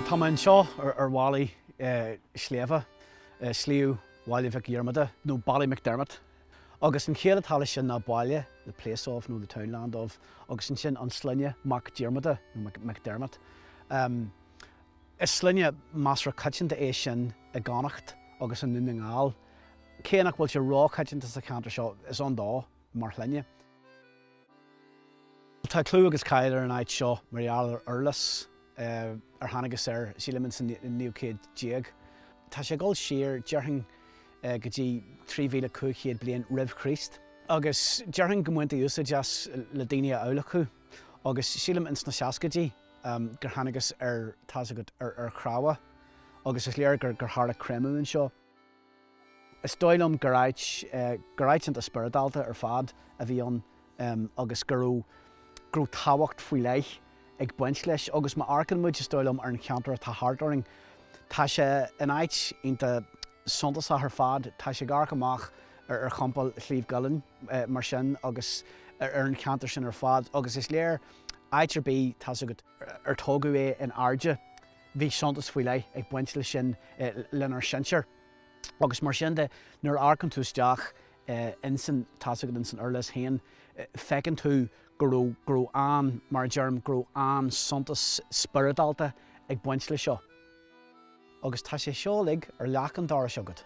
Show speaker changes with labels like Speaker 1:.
Speaker 1: Tá mé anseo ar mhalaí sléibhe, Sliabh Bhaile Mhic Dhiarmada nó Ballymacdermot. Agus an chiall atá leis sin ná baile, the place of nó the townland of, agus ansin an sloinne Mac Diarmada nó McDermott. Is sloinne measartha coitianta é sin i gConnacht agus i nDún na nGall, cé nach bhfuil sé róchoitianta sa cheantar seo, is ann dó mar shloinne. Tá clú agus cáil ar an áit seo mar gheall ar urlios ar thángthas air sílim ins an naoú céad déag. Tá sé ag dul siar, déarfainn, go dtí 3,500 bliain roimh Chríost. Agus déarfainn go mbaintí úsáid as le daoine a adhlacadh agus sílim ins na seascaidí gur thángthas ar, tá's agat, ar chnámha agus is léir gur tharla créamadh anseo. Is dóigh liom gur áit, gur áit iontach spioradálta ar fad a bhí ann agus go raibh, go raibh tábhacht faoi leith ag baint leis agus má amharcann muid, is dóigh liom, ar an cheantar atá thart orainn, tá sé in áit iontach suntasach ar fad. Tá sé ag amharc amach ar, ar Chompal Shliabh gCuillinn mar sin agus ar an cheantar sin ar fad agus is léir áit ar bith, tá's agat, ar tógadh é in airde Bhí suntas faoi leith ag baint leis sin lenár sinsir agus mar sin de nuair a amharcann tú isteach insan, tá 'fhios agat, insan urlios féin, feiceann tú go raibh, go raibh an, mar a deirim, go raibh an suntas spioradálta ag baint leis seo. Agus tá sé seo uilig ar leac an dorais agat.